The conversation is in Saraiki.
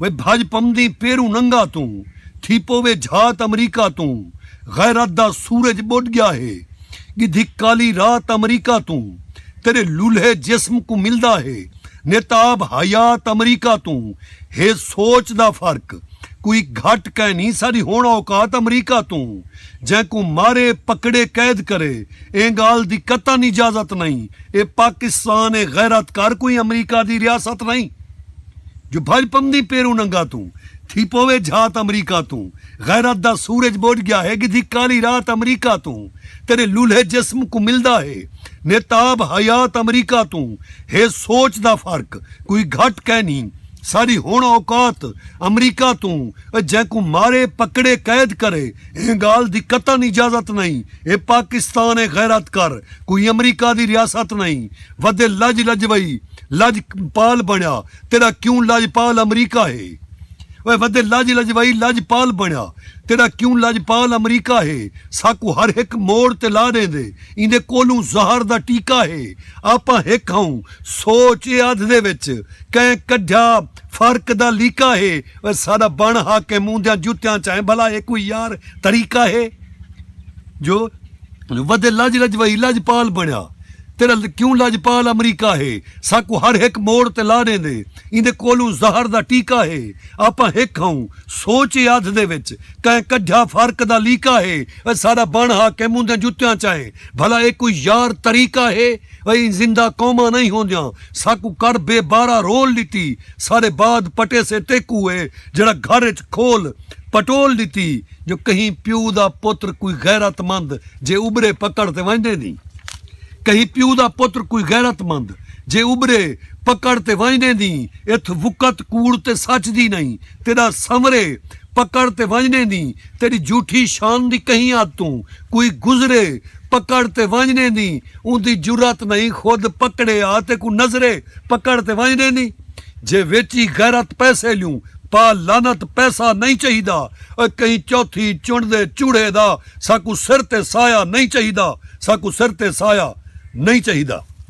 وے بھڄ پمدیں پیروں ننگا توں تھی پووے جھات امریکا توں غیرت دا سورج ٻݙ ڳیا ہے ڳدھک کالی رات امریکا توں تیݙے لولھے جسم کوں ملدا ہے نتاب حیات امریکا توں ہے سوچ دا فرق کوئی گھٹ کائنی ساݙی ہوݨ اوقات امریکا توں جینکوں مارے پکڑے قید کرے ایں ڳالھ دی قطعا اجازت نئیں اے پاکستان اے غیرت کر کوئی امریکہ دی ریاست نئیں جو بھج پمدی پیروں ننگا توں تھی پووے جھات امریکہ توں غیرت دا سورج بوجھ گیا ہے گدھی کالی رات امریکہ توں تیرے لولھے جسم کوں ملدا ہے نیتاب حیات امریکہ توں ہے سوچ دا فرق کوئی گھٹ کینی ساڈی ہن اوقات امریکہ توں اے جینکوں مارے پکڑے قید کرے ایں گال دی قطن اجازت نئیں اے پاکستان اے غیرت کر کوئی امریکہ دی ریاست نئیں ودے لج لج وئی لج پال بنڑیا تیڈا کیوں لج پال امریکہ ہے اوئے ودے لج لج وئی لج پال بنڑیا تیڈا کیوں لج پال امریکہ ہے ساکوں ہر ہک موڑ تے لا ڈیندے ایندے کولوں زہر دا ٹیکہ ہے آپاں ہک ہاوں سوچ اے ادھ دے وچ کئیں کڈھیا فرق دا لیکہ ہے اوئے ساڈا بنڑ حاکم اوندیاں جتیاں چائیں بھلا اے کوئی یار طریقہ ہے۔ جو ودے لج لج وہی لج پال بنیا تیرا کیوں لج پال امریکہ ہے ساکوں ہر ہک موڑ تے لا ڈیندے ایندے کولوں زہر دا ٹیکا ہے آپاں ہک ہاوں سوچ اے ادھ دے وچ کئیں کڈھیا فرق دا لیکا ہے اے ساڈا بن حاکم اوندیاں جتیاں چائے بھلا اے کوئی یار طریقہ ہے اے زندہ قوماں نئیں ہوندیاں ساکوں کر بے بارہ رول ڈتی ساڈے بعد پٹیسے ٹیکو اے جیڑھا گھر اچ کھول پٹول ڈتی جو کہیں پیو دا پتر کوئی غیرت مند جے ابھرے پکڑ تے وانجدے دی کہیں پیو دا پتر کوئی غیرت مند جے ابھرے پکڑ تے وانجدے دی اتھ وقت کوڑ تے سچ دی نئیں تیڈا سنورے پکڑ تے وانجدے دی تیڈی جھوٹھی شان دی کہیں ادھ توں کوئی گزرے پکڑ تے وانجدے دی اوندی جرات نئیں خود پکڑے آ تے کوں نظرے پکڑ تے وانجدے دی جے ویچی غیرت پیسے لیوں پا لعنت پیسہ نئیں چاہیدا۔ او کہیں چوتھی چنڈ دے چوڑھے دا ساکوں سر تے سایہ نئیں چاہیدا، ساکوں سر تے سایہ نئیں چاہیدا۔